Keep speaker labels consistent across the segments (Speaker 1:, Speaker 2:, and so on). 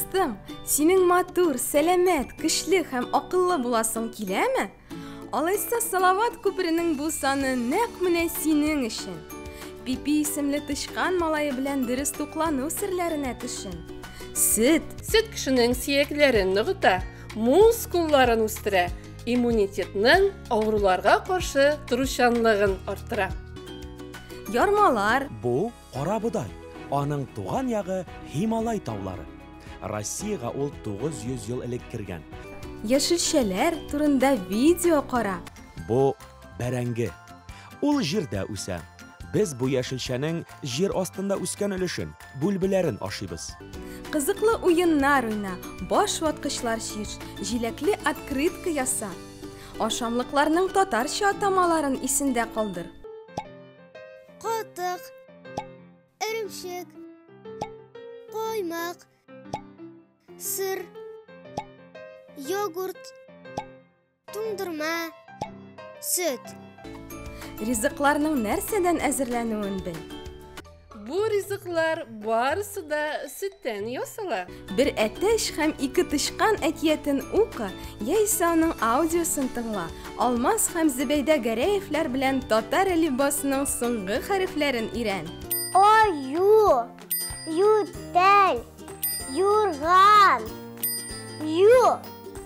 Speaker 1: Дустым, синең матур, сәламәт, көчле һәм акыллы буласың киләме? Алайса Салават күперенең бу саны нәкъ менә синең өчен. Пипи исемле тычкан малае белән дөрес туклану серләренә төшен. Сөт.
Speaker 2: Сөт кешенең сөякләрен ныгыта, мускулларын үстерә, Иммунитетның авыруларга каршы торучанлыгын арттыра.
Speaker 1: Ярмалар. Бу
Speaker 3: карабодай. Аның туган ягы Һималай таулары. Россиягә ул 900 ел элек кергән. Яшелчәләр
Speaker 1: турында видео кара. Бу
Speaker 3: бәрәңге. Ул җирдә үсә. Без бу яшелчәнең җир астында үскән өлешен, Бүлбеләрен ашыйбыз. Кызыклы
Speaker 1: уеннар уйна, баш ваткычлар чиш, җиләкле открытка яса. Ашамлыкларның татарча атамаларын исендә калдыр. Катык.
Speaker 4: Эремчек. Коймак. Сыр. Йогурт. Туңдырма, сөт.
Speaker 1: Ризыкларның нәрсәдән әзерләнүен бел. Бу
Speaker 2: ризыклар барысы да сөттән ясала. Бер әтәч
Speaker 1: һәм ике тычкан әкиятен ука, яисә аның аудиосын тыңла. Алмаз һәм Зөбәйдә Гәрәевләр белән татар әлифбасының соңгы хәрефләрен өйрән. Аю.
Speaker 4: Ютәл, юрган, ю.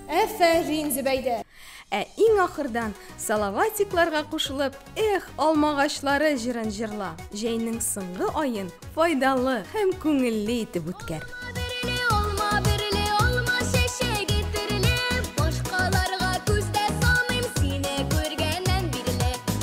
Speaker 4: Әфәрин,
Speaker 5: Зөбәйдә! Ә иң
Speaker 1: ахырдан салаватикларга кушылып, эх, алмагачлары җырын җырла. Җәйнең соңгы аен файдалы һәм күңелле итеп үткәр.